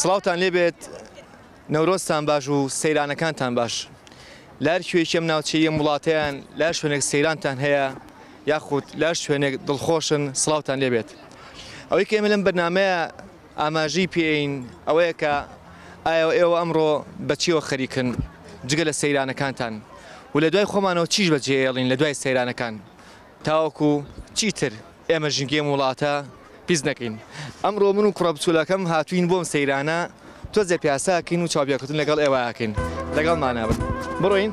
سڵاوتان لێبێت نەورۆزتان باش و سەیرانەکانتان باش لار کوێکی ئەم ناوچەیە وڵاتیان لا شوێنێک سەیرانتان هەیە یاخود لا شوێنێک دڵخۆشن سڵاوتان لێبێت ئەوەی کە ئێمە لەم بەرنمەیە ئاماژەی پێین ئەوەیە کە ئایا ئێوە ئەمڕۆ بە چیەوە خەریکن جگە لە سەیرانەکانتان و لە دوای خۆمانەوە چیش بە جێ ئێڵین لە دوای سەیرانەکان تاوەکو چیتر ئێمە ژینگەی ئەم وڵاتە پیس نەکەین ئەمڕۆ من و کوڕە بچوولەکەم هاتوین بۆم سەیرانە تۆزێ پیاساکەین و چاوپێکەوتن لەگەڵ ئێوە ئەکەین لەگەڵمانە بن بڕۆین.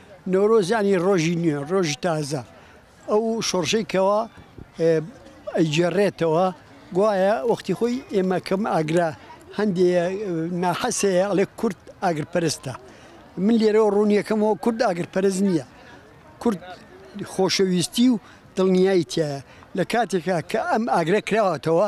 نەورۆز یانی ڕۆژی نوێ، ڕۆژی تازە، ئەو شۆڕشەی کەوا ئەیگێڕێتەوە گوایە وەختی خۆی ئێمە کەم ئاگرە هەندێ ناحەسەیە ئەڵێ کورد ئاگرپەرستە من لێرەوە ڕوونیەکەمەوە کورد ئاگرپەرست نییە کورد خۆشەویستی و دڵنیایتیایە لە کاتێکا کە ئەم ئاگرە کراوەتەوە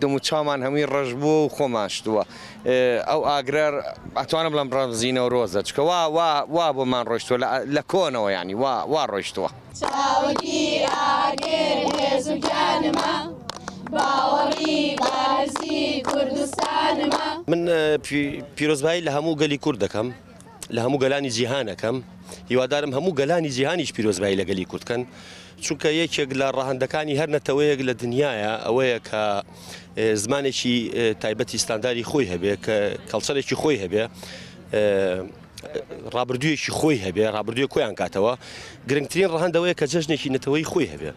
دەم و چاومان هەمووی ڕەش بووە و خۆمان شتووە. ئەو ئاگرە ئەتوانم بڵێم ڕەمزی نەورۆزە، چونکە وا وا وا بۆمان ڕۆیشتووە لە لە کۆنەوە یانی وا وا ڕۆیشتووە. چاوگی ئاگر هێز و گیانمە، باوەڕی بەهەرزی کوردستانمە. من پی پیرۆزبایی لە هەموو گەلی کورد دەکەم، لە هەموو گەلانی جیهان ئەکەم، هیوادارم هەموو گەلانی جیهانیش پیرۆزبایی لە گەلی کورد کەن. چونکە یەکێک لە ڕەهەندەکانی هەر نەتەوەیەک لە دنیاە ئەوەیە کە زمانێکی تایبەتی ستانداری خۆی هەبێ کە کەڵچەرێکی خۆی هەبێ ڕابردوویەکی خۆی هەبێ ڕابردووی کۆیان کاتەوە گرنگترین ڕەهندەوەی کە جژنێکی نەتەوەی خۆی هەبێ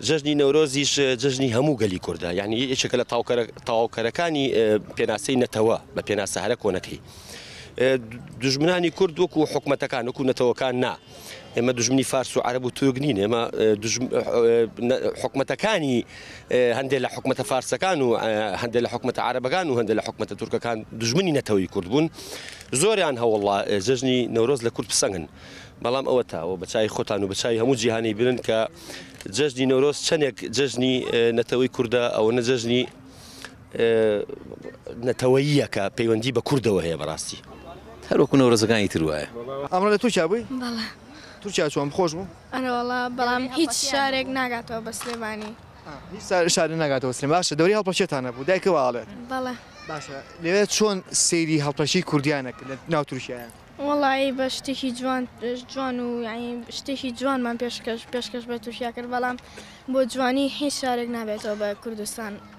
جژنی نەورۆزیش جژنی هەموو گەلی کووردە یعنی یەکێکە لە تاواوکەرەکانی پێناسەی نەتەوە بە پێناسە هەرە کۆنەکەی دژمنانی کورد وەکو حکوومەتەکان وەکو نەتەوەکان نا. ئێمە دژمنی فارس و عرب و تورک نین ئێمە حکومەتەکانی هەندێک لە حکومەتە فارسەکان و هەندێک لە حکومەتە عربەکان و هەندێک لە حکومەتە تورکەکان دژمنی نەتەوەی کورد بوون زۆریان هەوڵا جژنی نەورۆز لە کورد پسەنگن بەڵام ئەوە تاوە بەچای خۆتان و بەچای هەموو جیهانی برن کە جژنی نەورۆز چەندێک جژنی نەتەوەی کووردە ئەوە نەجژنی نەتەوەییەکە پەیوەندی بە کوردەوە هەیە بەڕاستی هەر وەکو نەورۆزەکانی تر وایە. ئەمڕۆ لە تورکیا بووی؟ بەڵێ. تورکیا چۆن؟ خۆش بوو؟ ئەرەوەڵا بەڵام هیچ شارێک ناگاتەوە بە سلێمانی. هیچ شارێک ناگاتەوە سلێمانی باشە دەوری هەڵپەکێتانە بوو دایکە وا ئەڵێت. بەڵێ. باشە لەوێ چۆن سەیری هەڵپەکی کوردیانە کرد لە ناو تورکیایە؟ وەڵایی بە شتێکی جوان جوان و یانی شتێکی جوانمان پێشکەش پێشکەش بە تورکیا کرد بەڵام بۆ جوانی هیچ شارێک نابێتەوە بە کوردستان.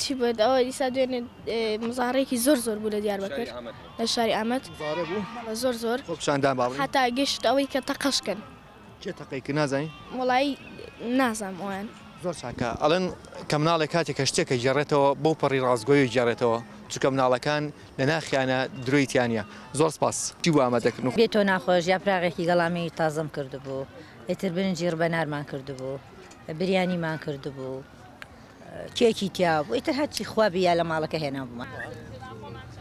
چی بێت ئەوە ئیسا دوێنێ مزارێکی زۆر زۆر بوو لە دیار بەکر لە شاری ئامەد زۆر زۆر خۆپشاندان باڵ هەتا گەشت ئەوەی کە تەقەشکن چێ تەقەی کە نازانی وڵایی نازام ئەویان زۆر چاکە ئەڵێن کە مناڵێ کاتێک کە شتێکە گێڕێتەوە بەو پەڕی ڕاستگۆی گێڕێتەوە چکە مناڵەکان لە ناخیانە درۆیتیانە زۆر سپاس چی وامە دەکەن و بێتۆ ناخۆش یا پراغێکی گەڵامی تازەم کردبوو ئیتر برنجی ڕبەنارمان کردبوو بریانیمان کردبوو. کێکی تیا بوو ئیتر هەرچی خوا بیا لە ماڵەکە هێنابوومان.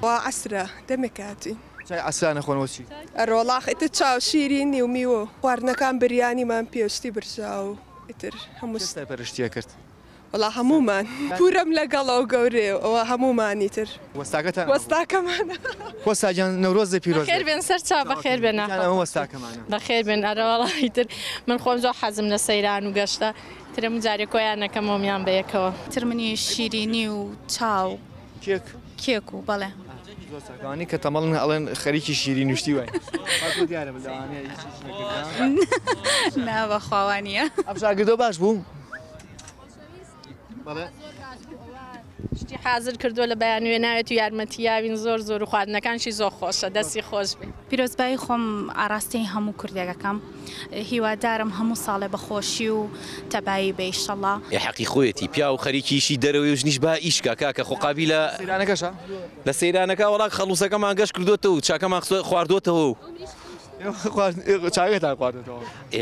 وا عەسرە دەمێ کاتی. چای عەسرا نەخۆن وە چی. ئەرۆڵاخ ئیتر چاو شیرینی و میوە و خواردنەکان بریانیمان پێشتی برژا و ئیتر هەموو. کێ سەرپەرشتیە کرد؟ وەڵا هەموومان. پورم لەگەڵە و گەورەیە و هەموومان ئیتر. وەستاکەتان ئەوە بوو. وەستاکەمان. وەستا گیان نەورۆزێ پیرۆز بێت. بەخێر بێن سەر چاو بەخێر بێن. گیان ئەمە وەستاکەمانە. بەخێر بێن ئەرۆڵاخ ئیتر من خۆم زۆر حەزم لە سەیران و گەشتە. ترم جارێ کۆیان ئەکەم مۆمیان بەیەکەوە. ترمنی شیرینی و چاو. کێک. کێک و بەڵێ. زۆر چاک ئەوانەی کە تەمەڵن ئەڵێن خەریکی شیرین و شتی واین بەس بۆ دیارە من لەوانەیە هیچ هیچ نەکردم. نا بەخوا وانیە. ئەم شاگردە باش بوو؟ بەڵێ. شتی حازر کردوە لە بەیانوێ ناوێت و یارمەتیاوین زۆر زۆر و خواردنەکانشی زۆر خۆشە دەستی خۆشبێ. پیرۆزبایی خۆم ئاراستەی هەموو کوردێک ئەکەم هیوادارم هەموو ساڵێ بە خۆشی و تەبایی بێ ئیشەڵا. ئێ حەقی خۆیەتی پیاو خەریکی ئیشی دەرەوەی و ژنیش با ئیش کا کاکە خۆ قابیلە. لە سەیرانەکەشا؟ لە سەیرانەکە وەڵا خەڵووسەکەمان گەش کردۆتەوە و چاکەمان خواردۆتەوە و. ئێوە خواردن چاکەتان خواردۆتەوە؟ ئێ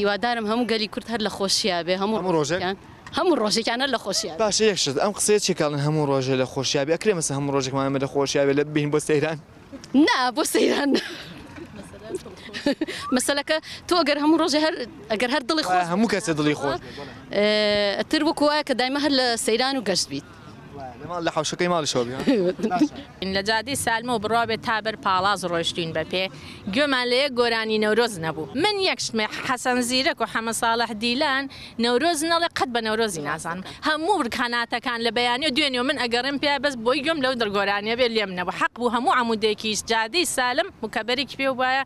هیوادارم هەموو گەلی کورد هەر لە خۆشیا بێ هەموو هەموو ڕۆژێک ڕۆژێکیان هەموو ڕۆژێکیان هەر لە خۆشیا بێ. باشە یەک شت ئەم قسەیە چیە کە ئەڵێن هەموو ڕۆژێ لە خۆشیا بێ ئەکرێ مەسە هەموو ڕۆژێکمان ئێمە لە خۆشیا بێ لە بین بۆ سەیران. نا بۆ سەیران نا مەسەلەکە تۆ گەر هەموو ڕۆژێ هەر ئەگەر هەر دڵی خۆش وایە هەموو کەسێ دڵی خۆش بێ بەڵێ. ئتر وەکو وایە کە دایمە هەر لە سەیران و گەشت بیت. لە جادەی سالمەوە بڕوابێت تا بەر پاڵاز ڕۆیشتوین بە پێ گوێمان لە یەک گۆرانی نەورۆز نەبوو من یەک شتم حەسەن زیرەک و حەمە ساڵح دیلان نەورۆز نەڵێ قەت بە نەورۆزی نازانم هەموو ڕکاناتەکان لە بەیانی و دوێنێ و من ئەگەڕێم پێیا بەس بۆی گوێم لەو گۆرانیە بێ لێم نەبوو حەق بوو هەموو عەمودێکیش جادەی سالم مکەبەرێکی پێ بوایە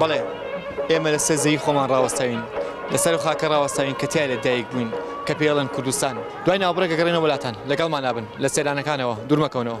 بەڵێ ئێمە لە سەر زەوی خۆمان ڕاوەستاوین لە سەر خاکە ڕاوەستاوین کە تیایە دایک بووین کە پێڵێن کوردستان دوای ناوبڕێک گەڕێنەوە لاتان لەگەڵمانابن لە سێدانەکانەوە دوورمەکەونەوە.